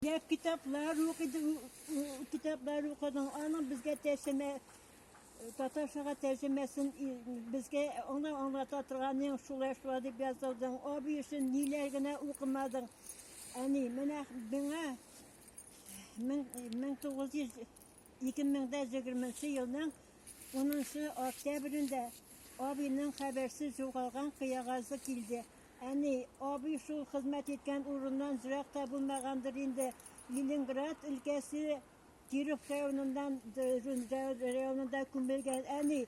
Йә китаплар укыдың, китаплар укыдың, аның безгә тәрҗемә татарчага тәрҗемәсен безгә аңа аңлата торганың шулай шулай дип язылдың. Абый өчен ниләр генә укымадың. Әни, менә миңа 1900 2020 елның 10 октябрендә абыйның хәбәрсез югалган кыягазы килде. Әни, абый шул хезмәт иткән урыннан зрак та булмагандыр инде. Ленинград өлкәсе Киров районыннан районында күмелгән. Әни,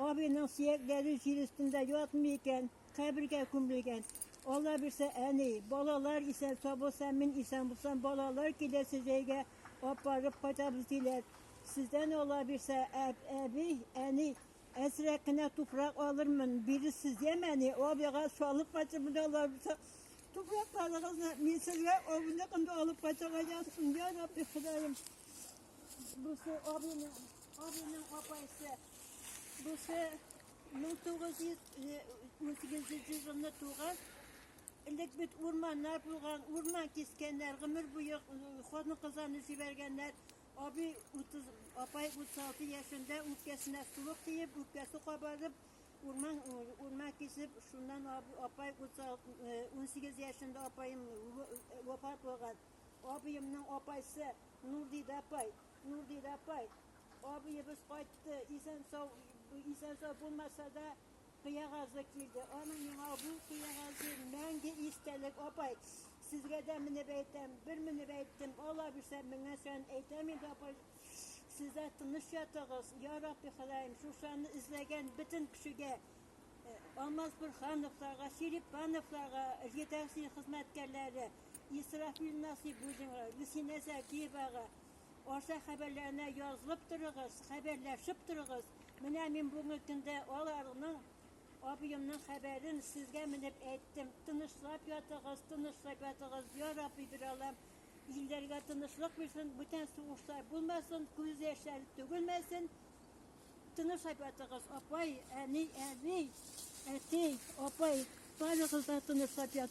абыйның сөякләре җир өстендә ятмый икән, кабергә күмелгән. Алла бирсә, әни, балалар исән табылса, мин исән булсам, балалар киләсе җәйгә апарып кайтабыз диләр. Сездән Алла бирсә, әби, әни, Әзрәк кенә туфрак алырмын, бирерсез, ямәни абыйга салып кайтып менә аларса. Туфракларыгызны мин сезгә авылны кында алып кайтырга язсын, я Рабби Ходаем. Бусы абыйның, абыйның апайсы. Бусы 1918 елны туган. Элек бит урманнар булган, урман кискәннәр, гомер буе хатын-кызларны җибәргәннәр. Абый 30, апай 36 яшендә үпкәсенә суык тиеп, үпкәсе кабарып, урман урман кисеп, шуннан апай 18 яшендә апаем вафат булган. Абыемның апайсы Нурдида апай, Нурдида апай, абыебыз кайтты, исән сау, исән сау булмаса да, Кыягазы килде. Аның миңа бу кыягазы мәңге истәлек, апай. Сезгә дә менеп әйтәм, бер менеп әйттем, ала бирсәм, менгән саен әйтәм инде, апай. Сездә тыныч ятыгыз, я Рабби Ходаем, шушаны эзләгән бөтен кешегә, э, Алмаз Бөрхановларга, Ширип Пановларга, редакция хезмәткәрләре, Исрафил Насыйбуллинга, Люсинә Закиевага, Арча хәбәрләренә язылып торыгыз, хәбәрләшеп торыгыз. Менә мин бүгенге көндә аларның абыемның хәбәрен сезгә менеп әйттем. Тынычлап ятыгыз, тынычлап ятыгыз, я Рабби бир Аллам. Илләргә тынычлык бирсен, бүтән сугышлар булмасын, күз яшьләре түгелмәсен. Тынычлап ятыгыз, апай, әни, әби, әти, апай, барыгыз да тынычлап ятыгыз.